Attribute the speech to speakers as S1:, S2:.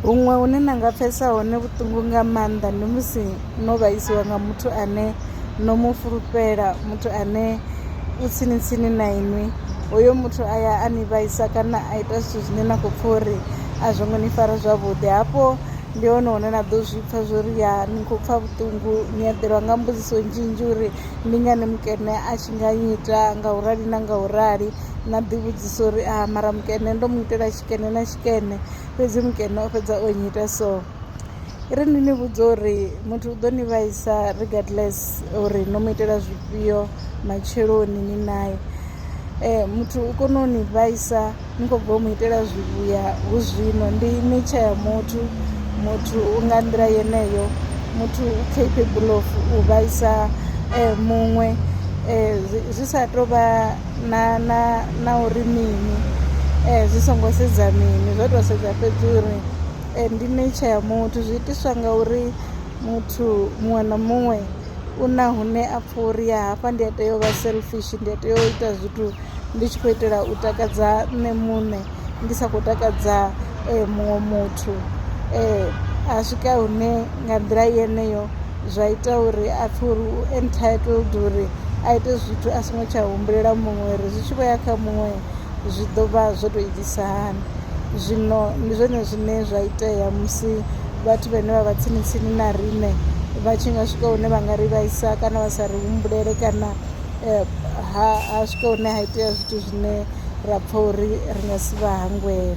S1: Huṅwe hune na nga pfhesa hone vhuṱungu nga maanḓa ndi musi no vhaisiwa nga muthu ane no mu fulufhela muthu ane u tsini tsini na inwi hoyo muthu a ya a ni vhaisa kana a ita zwithu zwine na khou pfha uri a zwo ngo ni fara zwavhuḓi hafho ndi hone hune na ḓo zwi pfha zwo ri ya ni khou pfha vhuṱungu ni eḓelwa nga mbudziso nnzhi nnzhi uri ndi ngani mukene a tshi nga nnyita nga u rali na nga u rali na ḓi vhudzisa uri a mara mukene ndo mu itela tshikene na tshi. mukene fhedzi mukene o fhedza o nnyita so i ri ndi ni vhudza uri muthu u ḓo ni vhaisa regardless uri no mu itela zwifhio matsheloni ni naye eh, muthu u kone u ni vhaisa ni khou bva u mu itela zwivhuya hu zwino ndi ni tsha ya muthu muthu u nga nḓila yeneyo muthu u capable of u vhaisa um muṅwe um zwi sa tou vha na na na uri mini zwi songo sedza mini zwo to sedza fhedzi uri ndi nature ya muthu zwi itiswa nga uri muthu muṅwe na muṅwe u na hune a pfha uri ya hafha ndi a tea u vha selfish ndi a tea u ita zwithu ndi tshi khou itela u takadza nṋe muṋe ndi sa khou takadza muṅwe muthu a swika hune nga nḓila yeneyo. zwa ita uri a pfhe uri u entitled uri a ite zwithu a songo tsha humbulela muṅwe uri zwi tshi vho ya kha muṅwe zwi ḓo vha zwo tou itisa hani. Zwino ndi zwone zwine zwa itea musi vhathu vhane vha vha tsini tsini na riṋe vha tshi nga swika hune vha nga ri vhaisa kana vha sa ri humbulele kana ha ha swika hune ha itea zwithu zwine ra pfha uri ri nga si vha hangwele .